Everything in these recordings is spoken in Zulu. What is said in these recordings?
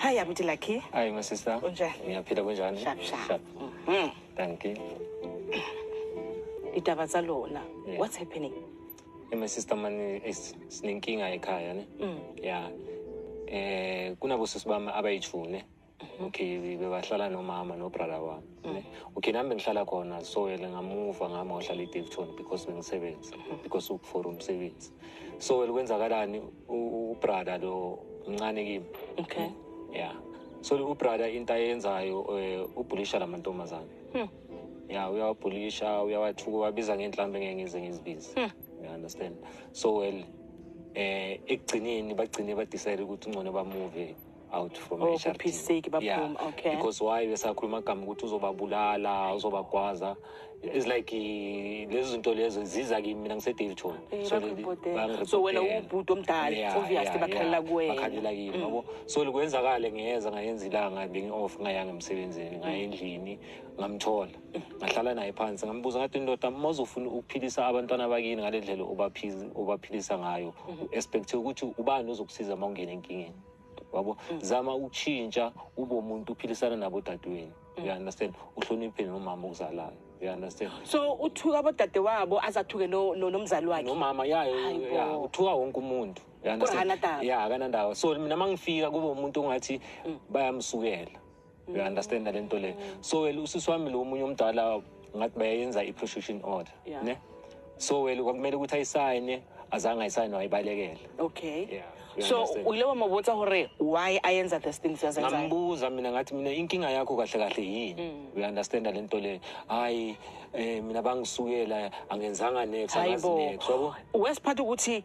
Hi, abuti Lucky. Hi, my sister. Unjani? Ngiyaphila kunjani? Sharp, sharp. Sharp. Mm. Thank you. Itaba tsa lona. Yeah. What's happening? Hey, my sister mani is sinenkinga ekhaya ne. Mm. Yeah. Eh kunabo sisi bami abayijune. Okay, bebahlala nomama no brother wami. Mm. okay nami bengihlala khona so yena ngamuva ngami wahlala edevton because bengisebenzi mm-hmm. because for umsebenzi so wele kwenzakalani ubrada lo mncane kimi okay ya so ubrada into ayenzayo eh, ubhulisha la mantombazane hmm. ya uyawabhulisha uyawathuka wabiza ngenhlambe ngeke ngize ngizibize hmm. you understand so well eh ekugcineni bagcine badecide ukuthi ungcono bamuve out from Oh, HRD. kuphisiki baphuma, Yeah, okay. because why besakhuluma agama ukuthi uzobabulala uzobagwaza it's like eh, lezo zinto lezo ziza kimi mina ngisedavidson Eh, So, bakubhodela. bangirepotela. So, wena uwubhuti omdala, Yeah, obviously yeah, bakhalela yeah. kuwena. Mm. bakhalela kimi yabo so likwenzakale ngiyeza ngayenza ilanga bengi-off ngayanga emsebenzini ngaya endlini ngamthola Mm. ngahlala naye phansi ngambuza ngathi ndoda uma uzofuna ukuphilisa abantwana bakini ngale ndlela obaphiz- obaphilisa ngayo Mm-hmm. expecthe ukuthi ubani ozokusiza uma ungena enkingeni wabo zama ukutshintsha ube umuntu uphilisana nabo dadewenu you mm. understand uhloniphe nomama okuzalayo you understand so uthuka abodade wabo azathuke lo lo nomzali wakhe nomama yayo ya uthuka wonke umuntu ya akanandawo so mina mangifika kube umuntu ongathi mm. bayamsukela you understand le nto le so wena usisi wami lo omunye omdala ngathi bayayenza i-prostitution order Yeah. ne so wena kwakumele ukuthi ayisayine azange ayisayine wayibalekela okay Yeah, you so understand. o ile wa mo botsa gore why a yenza this thing siyazenza ngambuza mina ngathi mina inkinga yakho kahle kahle yini uyanderstanda le nto le hhayi um mina bangisukela angenzanga next Hayi angazi bo. next yabo wesiphatha ukuthi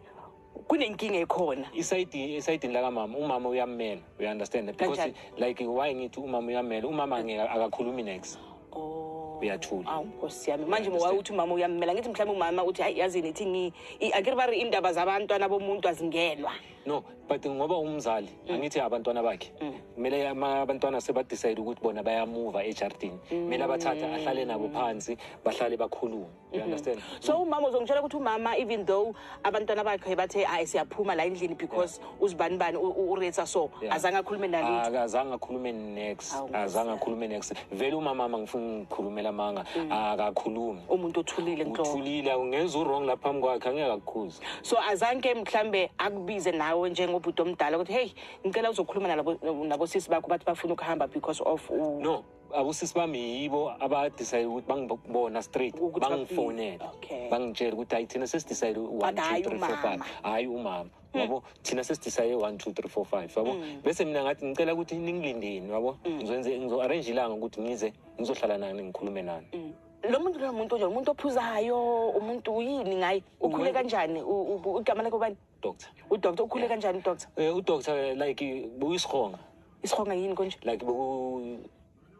kunenkinga ekhona isayidi esayidini lakamama umama uyammela we understand that because Kanjani? like why ngithi umama uyammela umama angeke akakhulumi next Oh. uyathula awu nkosi yami manje Understand. waye uthi umama uyammela ngithi mhlawumbe umama uthi hayi yazini ithi ngi i- akiri bari indaba zabantwana bomuntu azingenwa no but ngoba umzali angithi abantwana bakhe kumele ama- abantwana sebadecide ukuthi bona bayamuva ejardini kumele abathathe ahlale nabo phansi bahlale bakhulume you mm-hmm. understand so umama uzongitshela ukuthi umama even though abantwana bakhe bathe hayi siyaphuma la endlini because uzibani bani uretsa so azange akhulume nalutho akazange akhulume next azange akhulume next vele umama ama ngifuna ngikhulumela amanga mm. akakhulumi umuntu othulile nto uthulile ungenza uwrong lapha phambi kwakhe angeke akukhuze so azange mhlambe akubize nawe njengobhuti omdala ukuthi hey ngicela uzokhuluma nalabo nabosisi bakho bathi bafuna ukuhamba because of no abosisi bami yibo abadecide ukuthi bangibona straight Ukuthi bafike. bangifonela Okay. bangitshela ukuthi hayi thina sesidecide one But two hhayi three four five umama. Hmm. hhayi umama yabo thina sesidecide one two three four five yabo bese mina ngathi ngicela ukuthi ningilindeni yabo Hmm. ngizokwenze ngizo-arrange ilanga ukuthi ngize ngizohlala nani ngikhulume nani Hmm. lo muntu loyo muntu onjani umuntu ophuzayo umuntu yini ngaye ukhule Umuntu- kanjani U- u- igama lakhe ubani doctor udoctor ukhule kanjani udoctor eh udoctor eh, like buyisihonga isihonga yini konje like beku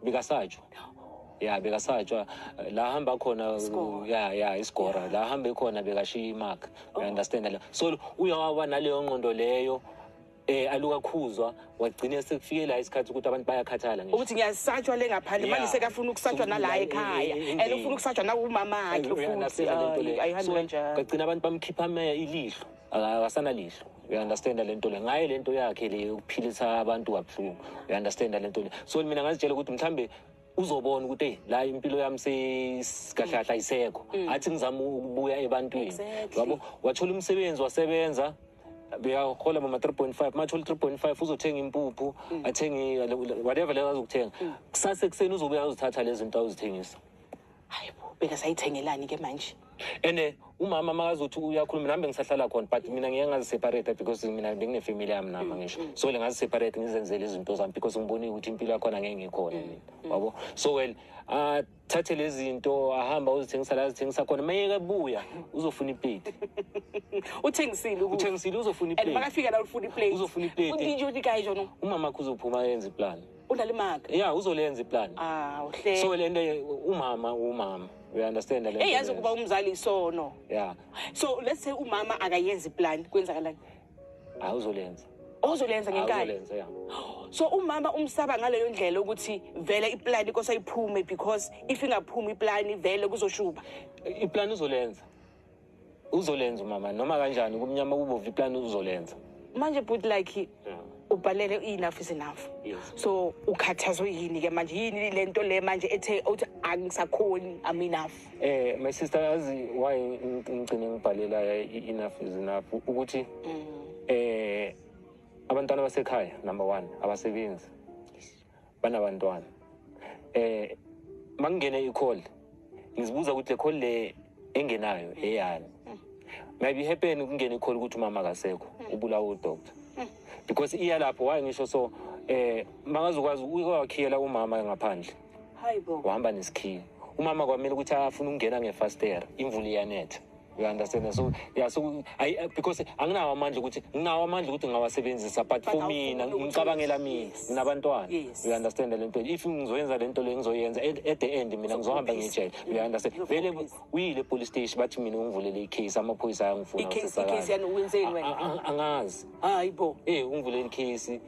bikasajwa ya bekasatshwa eh, la hamba khona ya ya isigora la hambe khona bekashiya imark oh. understand la so uyawawa naleyo nqondo leyo eh alukakhuzwa wagcina sekufike la isikhathi ukuthi abantu bayakhathala ngisho ukuthi ngiyasatshwa le ngaphandle manje sekafuna ukusatshwa nala ekhaya and ufuna ukusatshwa nakumama akhe futhi ayihambi kanjalo kagcina abantu bamkhipha ameya ilihlo akasana lihlo uyaunderstanda le nto le ngaye le nto yakhe le yokuphilisa abantu kabuhlungu uyaunderstanda le nto le so mina ngazitshela ukuthi mhlawumbe uzobona ukuthi eyi la impilo yami sekahlahla isekho mm. athi ngizama ukubuya ebantwini yabo wathola umsebenzi wasebenza beyahola mama 3.5 mathola 3.5 uzothenga impuphu mm. athenge whatever lezo azokuthenga mm. kusase kuseni uzobuya uzithatha lezi zinto awuzithengisa hayi bo bekasayithengelani ke manje ene umama makazothi uyakhuluma nami bengisahlala khona but mina ngeke ngaziseparate because mina benginefamily yami nama ngisho mm, mm. so le ngaziseparate ngizenzele izinto zami because ngibonile ukuthi impilo yakhona ngeke ngikhona mm, mina wabo so well athathe lezi zinto ahamba uzithengisa la azithengisa khona mayeke buya uzofuna iplate uthengisile uthengisile uzofuna iplate and makafika la ufuna iplate uzofuna iplate umama kuzophuma yenze iplani Ulalimaka. Yeah, uzolenza iplan. Ah, uhle. So lento umama umama. We understand lento. Hey, yazi kuba umzali isono. Yeah. So let's say umama akayenzi iplan kwenzakalani? Ah, uzolenza. Ozolenza ngenkani. Uzolenza yeah. So umama umsaba ngaleyo ndlela ukuthi vele iplan ikosa iphume because if ingaphumi iplan vele kuzoshuba. Iplan uzolenza. uzolenza umama noma kanjani kumnyama kubovu iplani uzolenza manje bhuti like ubhalele i-enough is enough so ukhathazwe yini ke manje yini le nto le manje ethe uthi angisakhoni am enough eh my sister yazi why ngigcine ngibhalela i-enough is enough ukuthi mm. eh abantwana basekhaya number one abasebenzi banabantwana eh makungene i-call ngizibuza ukuthi le call le engenayo eyani maybe happen kungena i-call ukuthi umama akasekho ubulawa udoctor because iya lapho waye ngisho so eh makazokwazi ukwakhiyela umama ngaphandle wahamba nesikhiya umama kwamele ukuthi afune ukungena ngefastera imvula iyanetha you understand so yeah so I, uh, because anginawo amandla ukuthi nginawo amandla ukuthi ngawasebenzisa but for mina ngicabangela mina nginabantwana you understand le nto if ngizoyenza le nto le ngizoyenza at the end mina ngizohamba ngijele you understand vele uyile police station bathi mina ungivulele icase amaphoyisa ayangifuna icase icase yani wenzeni wena angazi hayi bo eh ungivulele icase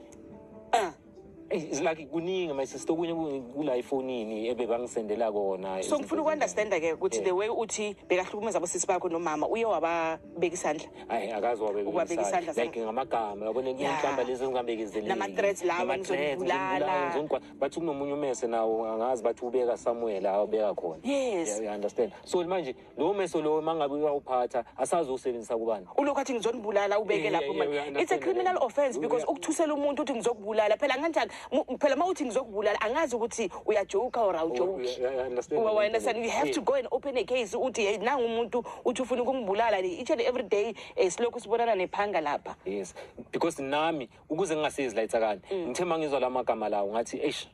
ah It's like kuningi my sister okunye kula ifonini ebebangisendela kona. So ngifuna ukunderstand ke ukuthi the way uthi bekahlukumeza abosisi bakho nomama uye wababeka isandla. Hayi akazi wabeka isandla. Like ngamagama yabona inhlamba lezi zingambekezeleli. Nama threats lawo ngizobulala. Ngizokwa bathi kunomunye umese nawo angazi bathi ubeka Samuel awubeka khona. Yes. You understand. So manje lowo meso lowo uma ngabe uyawuphatha asazi usebenzisa kubani ulokhu athi ngizonibulala ubeke Yeah, lapho yeah, manje. yeah, we it's a understand criminal that. offense because Yeah. ukuthusela umuntu uthi ngizokubulala phela kanjani Mu- phela uma uthi ngizokubulala angazi ukuthi uyajoka or awujoki Yeah, yeah, I understand. Well, I understand. You have to go and open a case uthi hey nangu umuntu uthi ufuna ukungibulala le each and every day eh, silokhu sibonana nephanga lapha yes because nami ukuze ngingasezi layitsakani ngithe uma ngizwa la magama lawo ngathi eish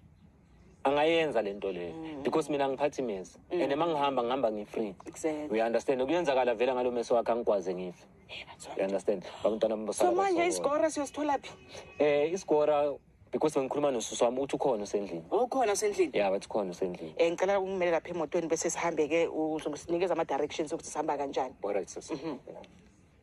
angayenza le nto leyo mm. because mina ngiphathi mezi mm. and uma ngihamba ngihamba ngi-free exactly. you understand kuyenzakala vele ngalo meso wakhe angikwazi ngife you understand abantwana so manje isigora siyosithola phi um isigora because bengikhuluma nosusu wami uthi ukhona usendlini ukhona oh, usendlini ya bathi ukhona usendlini um ngicela ukumele lapha emotweni bese sihambe-ke uzosinikeza ama-directions okuthi sihamba kanjani alright sisi mm -hmm. yeah.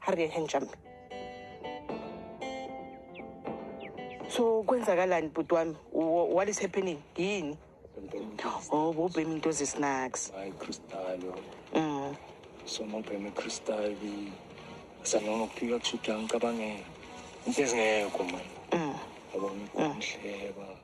Harry handsome. So kwenzakalani bhuti wami? What is happening? Yini? Oh, bobhemi into zesnacks. Hayi Crystal. Mm. So mobhemi Crystal bi sanoma kufika kushutha ngicabangela. Into ezingekho manje. Mm. Yabona umhleba. Mm.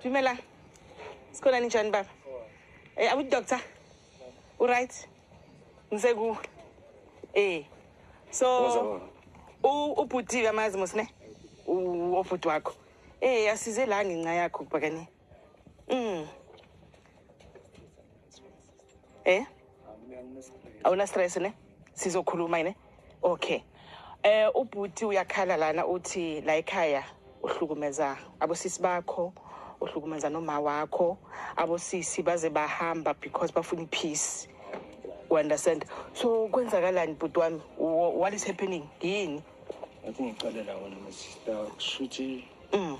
Dumela. Sikhona ninjani baba? Eh awu doctor. U right? Ngize ku. Eh. So u ubhuti kamazi musine. U obhuti wakho. Eh asize la ngenxa yakho kubakane. Mm. Eh? Awuna stress ne? Sizokhuluma yini? Okay. Eh ubhuti uyakhala lana uthi la ekhaya uhlukumeza abosisi bakho, uhlukumeza noma wakho, abosisi baze bahamba because bafuna peace. You understand? So kwenzakalani bhuti wami? What is happening? Yini? Athi ngiqale la wena sister kushuthi. Mm.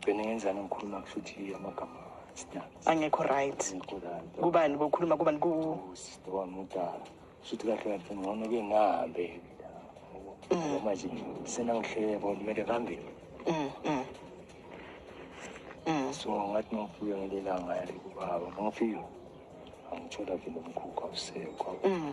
Gcine ngenzani ngikhuluma kusho ukuthi amagama sidala. Angekho right. Ngikho kanti. Kubani bokhuluma kubani ku Usisi wami udala. Kusho ukuthi kahle kahle ngcono ke ngihambe. Noma nje senangihlebo kumele phambili. Mm. Mm. Mm. So ngathi ngifike ngelelanga yale kubaba. Ngifike. Angithola vele umkhukha usekho. Mm.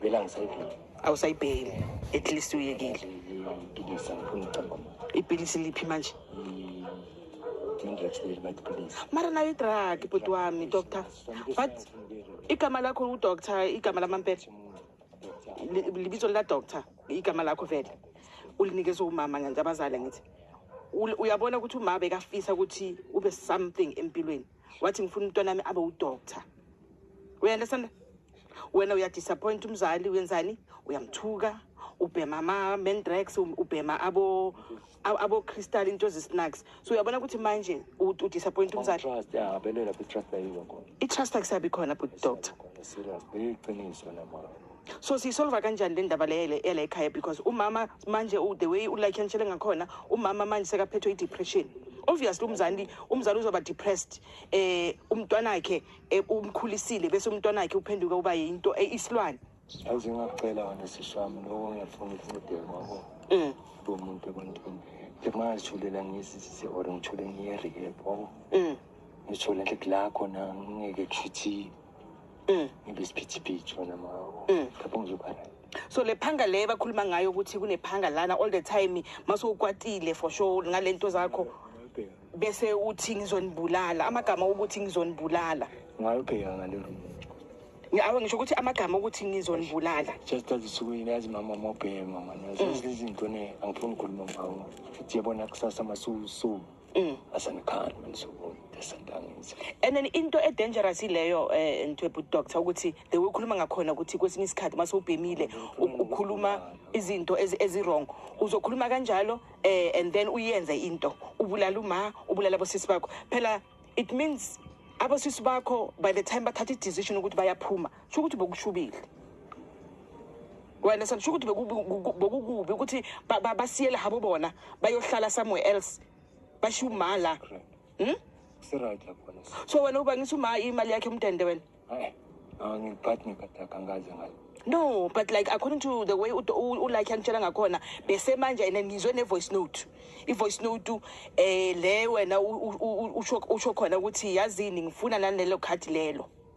Vela ngisayibheki. Awusayibheki. At least uyekile. Ngipilisa ngifuna ucabanga. Ipilisi liphi manje? Mara nayo i-drug bhuti wami doctor. But igama lakho udoctor igama lamampepha. Libizo la doctor igama lakho vele. Ulinikeza umama ngenza abazali ngithi. Uyabona ukuthi umama bekafisa ukuthi ube something empilweni. wathi ngifuna umntwana wami abe udoctor uyandestand wena uyadisappoint umzali uyenzani uyamthuka ubhema ama-mendrax ubhema abo-crystal into zi-snacks so uyabona ukuthi manje udisappoint umzali i-trust akusabi khona but doctor so siyisolva kanjani le ndaba leyele yala ekhaya because umama manje the way ulike ngitshele ngakhona umama manje sekaphethwe i-depression obviously umzali umzali uzoba depressed eh umntwana wakhe eh, umkhulisile bese umntwana wakhe uphenduke uba yinto eh, isilwane yazi ngacela wena sishami lokho ngiyafuna ukufundela kwakho mm. lo muntu ebantwini nje mangazithulela ngisisise or ngithule ngiye-rehab wabo mm. ngithule nje kulakho na ngingeke kusho ukuthi Mm. Ngibe isiphithiphithi wena mawo. Mm. Lapho ngizoba right. so le phanga le bakhuluma ngayo ukuthi kunephanga lana all the time masukwatile for sure ngalento zakho Ngayibheka. bese uthi ngizonibulala amagama ukuthi ngizonibulala Ngayibheka ngale room. Ngi- awu ngisho ukuthi amagama ukuthi ngizonibulala Just that usuku yini yazi mama mobhema mama. Yazi lezi zinto ne angifuni ukukhuluma ngawo. Futhi yabona kusasa masusu. mm. asanikhani manisuku esentangithi and then into edangerous ileyo eh ntwebhu doctor ukuthi the way ukhuluma ngakhona ukuthi kwesinye isikhathi mase ubhemile ukhuluma izinto ezirong uzokhuluma kanjalo eh and then uyenze into ubulala uma ubulala abosisi bakho phela it means abosisi bakho by the time bathatha i-decision ukuthi bayaphuma sho ukuthi bokushubile wena sandisho ukuthi bekukubi ukuthi basiyele habo bona bayohlala somewhere else bashiya uma la hmm? so wena uba ngithi uma imali yakhe umdende wena no but like according to the way ulike angitshela ngakhona besemanje and ngizwe ne-voice note i-voice note um le wena usho khona ukuthi yazini ngifuna nanelo khadi lelo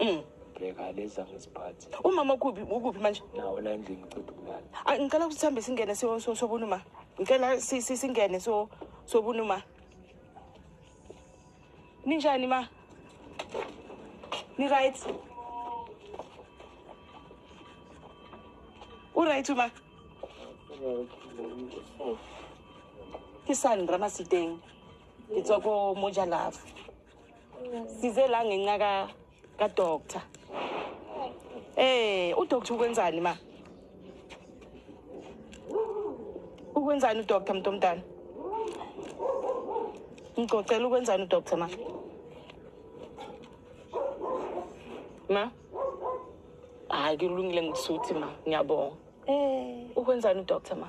Mm. Bheka leza ngesiphathi. Umama ukuphi ukuphi manje? Nawo la endlini ngicela ukulala. Ah, ngicela ukuthi sihambe singene so so sobunuma. Ngicela si- si- singene so sobunuma. Ninjani ma? Ni right? U right ma? Ke sani Ramasiteng. Ke tswa ko Moja Love. size la ngenxa ka ka doctor eh u doctor ukwenzani ma ukwenzani u doctor mntomntana ngicocela ukwenzani u doctor ma ma hayi kulungile ngisuthi ma ngiyabonga eh ukwenzani u doctor ma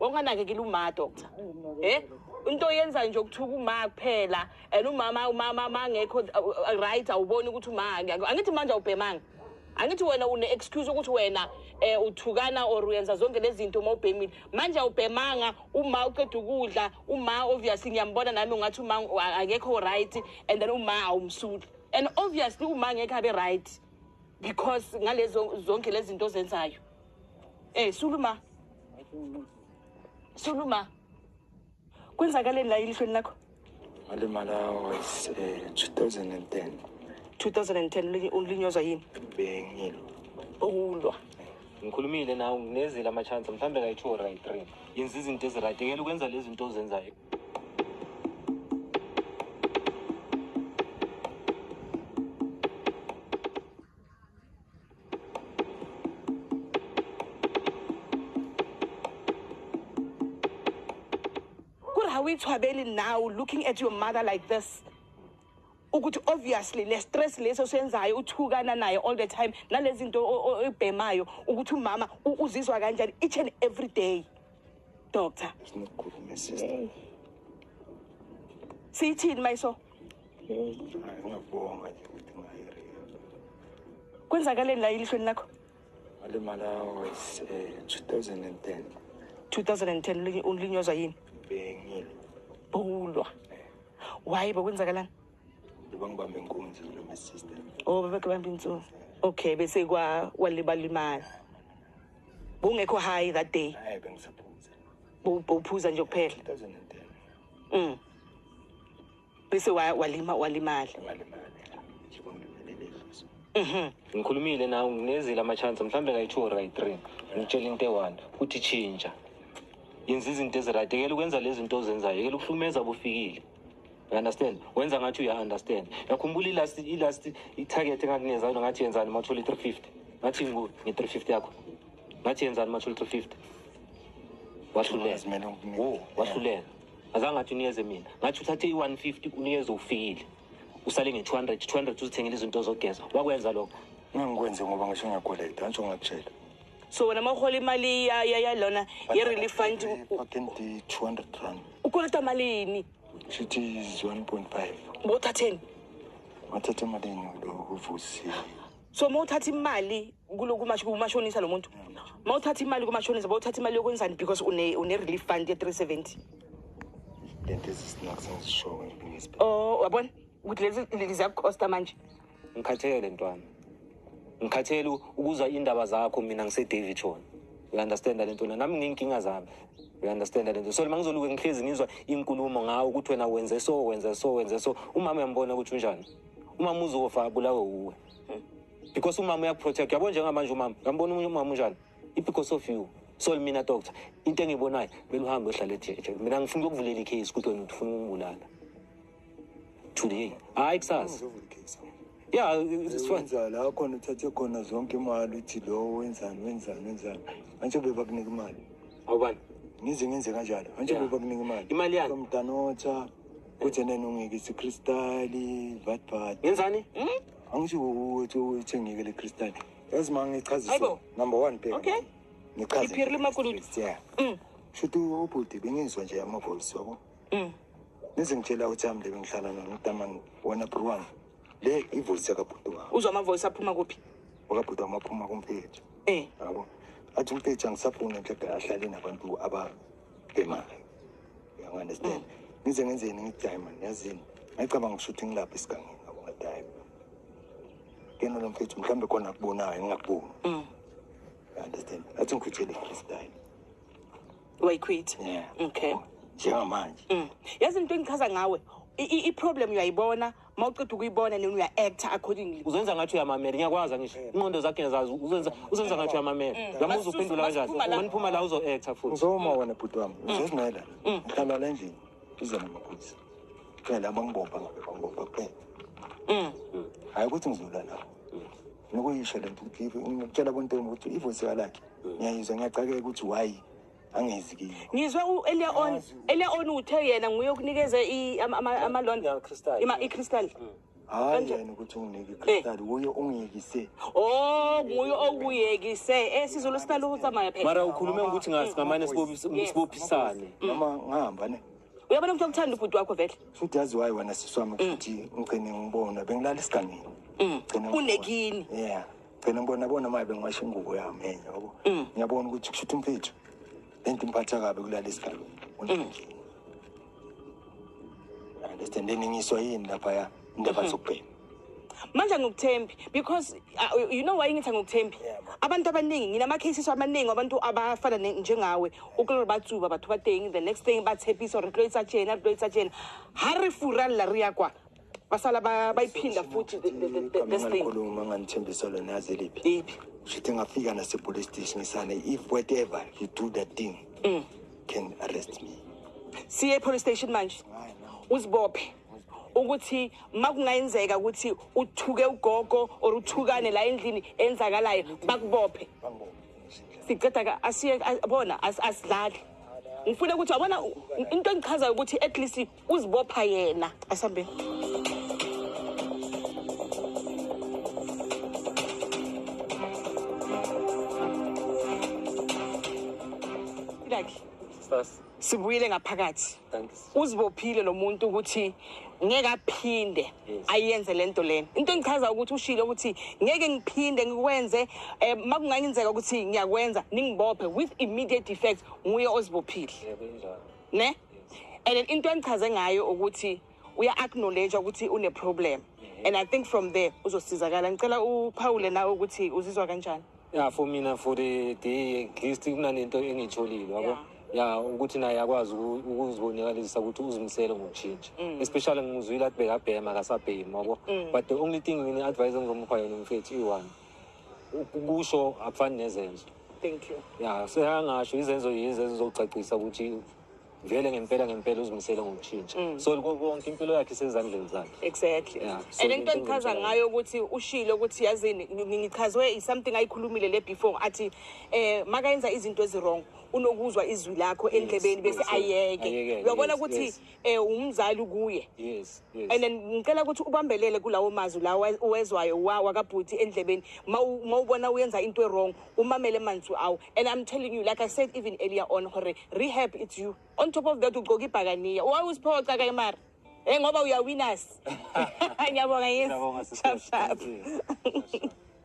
Wanganakekela uma doctor. Eh? Into oyenza nje ukuthuka uma kuphela and umama umama mangekho uh, uh, right awuboni ukuthi uma angithi manje awubhemanga. Angithi wena une excuse ukuthi wena eh uthukana or uyenza zonke lezi zinto uma ubhemile. Manje awubhemanga uma uqeda ukudla uma obviously ngiyambona nami ungathi uma akekho right and then uma awumsuli. And obviously uma ngeke abe right because ngalezo zonke lezi zinto ozenzayo. Eh suluma. Suluma. Kwenzakaleni la elihlweni lakho? Alimala was eh, 2010. 2010 ulinyozwa yini? Bengilo. Ukulwa. Ngikhulumile nawe nginezile ama chance mhlambe kayi 2 or kayi 3. Yenza izinto ezirayithi ngeke ukwenza lezi zinto ozenzayo. awuyithwabeli now looking at your mother like this ukuthi obviously le stress leso senzayo uthukana naye all the time nalezi zinto oyibhemayo ukuthi umama uzizwa kanjani each and every day doctor sinokukhuluma sister hey. siyithini mayiso hey. ngiyabonga nje ukuthi ngayiri kwenzakaleni la elihlweni lakho alimala was uh, eh, 2010 2010 ulinyozwa yini bengile bulwa eh. waye bekwenzakalani bangibambe inkunzi lo my sister oh bebekubamba inkunzi okay bese kwa walibalimala Bungekho high that day. Hayi bengisaphuza. Uphuza nje kuphela. 2010. Mm. Bese walima walimala. Walimala. Mhm. Ngikhulumile nawe nginezile ama chance mhlambe ngayi 2 or 3. Ngitshela into e1 ukuthi chinja. Yenza izinto eziradigela ukwenza lezi zinto ozenzayo. Yekela ukuhlumeza bufikile. You understand? Wenza ngathi uya understand. Yakhumbula ilast ilast itarget engakungenza yona ngathi yenzani uma uthola 350. Ngathi ngu ngi 350 yakho. Ngathi yenzani uma uthola 350. Wahluleka. Wo, wahluleka. Azange athi unikeze mina. Ngathi uthathe i150 unikeze ufikile. Usale nge 200, 200 uzithengele izinto zogeza. Wakwenza lokho. Ngangikwenze ngoba ngisho ngiyakweleta, angisho ngakutshela. so wena ma u hola imali ya ya ya lona ye relief fund u- Fucking the 200 rand. u kolota mali yini It is 1.5. bo thatheni Wathatha imali yenu lo uvusi. so ma uthatha imali kulo kumash- kumashonisa lo muntu ma uthatha imali kumashonisa ba uthatha imali yokwenzani because une une relief fund ye 370 Lento ezisinakusenzishoyo ngisibhe. oh wabona ukuthi lezi lezi ziyakucosta manje ngikhathele ntwana ngikhathele ukuzwa indaba zakho mina ngisedavid shona you understand le nto nami nginkinga zami you understand le nto so lima ngizoluke ngihlezi ngizwa inkulumo ngawo ukuthi wena wenze so wenze so wenze so umama uyambona ukuthi unjani umama uzofa abulawe uwe because umama uyakuprotect yabo njengamanje umama uyambona omunye umama unjani i-because of you so mina doctor into engiyibonayo beluhambe ohlala ejeje mina ngifuna ukuvulela i-case ukuthi wena ufuna umbulala today hayi kusasa ya wenza la khona uthathe khona zonke imali uthi lowo wenzani wenzani wenzani antsho bebakunika imali awubani ngize ngenze kanjalo antsho Yeah. bebakunika imali Imali yani? mdanotha kuthi nena ungeke isikristali vatvat ngenzani angisho ukuthi uthengeke le kristali yazi ma ngichazise Aibo. number one bheka Okay. ngichaze Iphiri limakulutu. yeah Mm. shuthi ubhuti bengizwa nje amavoice wabo Mm. Nize ngitshela ukuthi ami le bengihlala nona utamani wena bro wami. Le ivoice yakabhuti wami. Uzwa ama voice aphuma kuphi? Wakabhuti wami aphuma kumphethu. Eh. Yabo. Athi umphethu angisafuni nje ahlale nabantu aba bemali. You understand? Nize ngenzeni ngidiamond yazini. Ngicabanga ukuthi ngilapha isigangeni yabo ngadiamond. Kena lo mfethu mhlambe khona akubonayo ngingakuboni. Mm. You understand? Athi ngikhutshele ikhristayi. wayikhwitha yeah okay njengamanje mm. yazi into engichaza ngawe i-problem uyayibona uma uceda ukuyibona nini uya-actor accordingly uzenza ngathi uyamamela ngiyakwazi angisho inqondo zakhe ngiyazazi uzenza uzenza ngathi uyamamela mm. uyamuza uphendula kanjani uma niphuma la uzo-actor futhi ngizoma wena bhuti wami mm. uzozimela mm. ngihlala la endlini ize namakhosi phela bangibopha ngabe bangibopha kuphela hhayi ukuthi ngizula nabo nokuyisho le nto ukuthi ngitshela bontombi ukuthi ivosi kalakhe Ngiyizwe ngiyacakeka ukuthi why angezi kimi. Ngizwe uElia on Elia on uthe yena nguye okunikeza i ama loan crystal. Ima i crystal. Hmm. Hayi yena ukuthi unginike eh. crystal wuye ungiyekise. Oh nguye okuyekise. Eh sizulu sitala ukutsamaya phela. Mara ukhulume ukuthi ngasi hmm. ngamane sibophisane. Hmm. Noma ngihamba ne. Uyabona ukuthi ukuthanda ubhuti wakho vele. Futhi yazi wayi wena siswami ukuthi ngigcine ngibona bengilala isiganini. Unekini. Yeah. phela ngibona bona maye bengiwasha ingubo yami enye yabo mm. ngiyabona ukuthi kusho ukuthi mfethu lento imphatha kabi kulala isigalo unjengini mm. understand eningiswa yini lapha ya indaba mm-hmm. zokubhema manje ngikuthembi because uh, you know why ngithi ngikuthembi abantu abaningi nginama cases amaningi abantu abafana njengawe ukulore batsuba bathu bateng the next thing bathepisa or retloitsa tjena retloitsa tjena ha re fura la re ya kwa basala ba- bayiphinda futhi the- the- the- the- this thing khuluma nganithembisa lona yazi liphi iphi shithi ngafika nasepolice station ngisane if whatever you do that thing Mm. can arrest me siye epolice station manje uzibophe ukuthi makungayenzeka ukuthi uthuke ugogo or uthukane la endlini enzakalayo bakubophe siceda ka asiye a- bona as- asidlali ngifuna ukuthi wabona u- into engichazayo ukuthi at least uzibopha yena asambe sibuyile ngaphakathi uzibophile lo muntu ukuthi ngeke aphinde ayenze le nto lena into engichaza ukuthi ushilo ukuthi ngeke ngiphinde ngikwenze um eh, makungangenzeka ukuthi ngiyakwenza ningibophe with immediate effect nguye ozibophile ne and then into engichaze ngayo ukuthi uya acknowledge ukuthi une problem and i think from there uzosizakala ngicela uphawule nawe ukuthi uzizwa kanjani ya for mina for the day at least kunanento engiyitholile wabo yeah. ya ukuthi naye akwazi ukuzibonakalisa ukuthi uzimisele ngokushintsha mm. especially ngimuzwile athi bekabhema akasabhemi wabo mm. but the only thing ngine advice engizomupha yona mfethu iyi-one kusho akufani nezenzo thank you ya seyangasho izenzo yizenzo zocacisa ukuthi vele ngempela ngempela uzimisele ngokushintsha mm. so konke impilo yakhe isezandleni zakhe exactly yeah. so and into engichaza ngayo ukuthi ushile ukuthi yazini ngichazwe isomething ayikhulumile le before athi eh makayenza izinto eziwrong unokuzwa izwi lakho endlebeni bese ayeke uyabona ukuthi eh umzali kuye yes yes and then ngicela ukuthi ubambelele kulawo mazwi lawo wezwayo wakabhuti endlebeni mawubona uyenza into wrong umamele manzwi awo and i'm telling you like i said even earlier on hore rehab it's you on top of that ugqoka ibhakaniya waye usiphoxa ka imari e eh, ngoba uyawinas ngiyabonga yes sharp sharp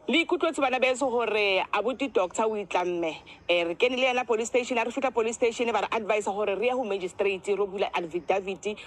le ikutlwe tse bana beso gore a bote doctor o itlamme um eh, re kene le yena police station a re fitlha police station ba re advise gore re ya go magistrate ro bula alvidavity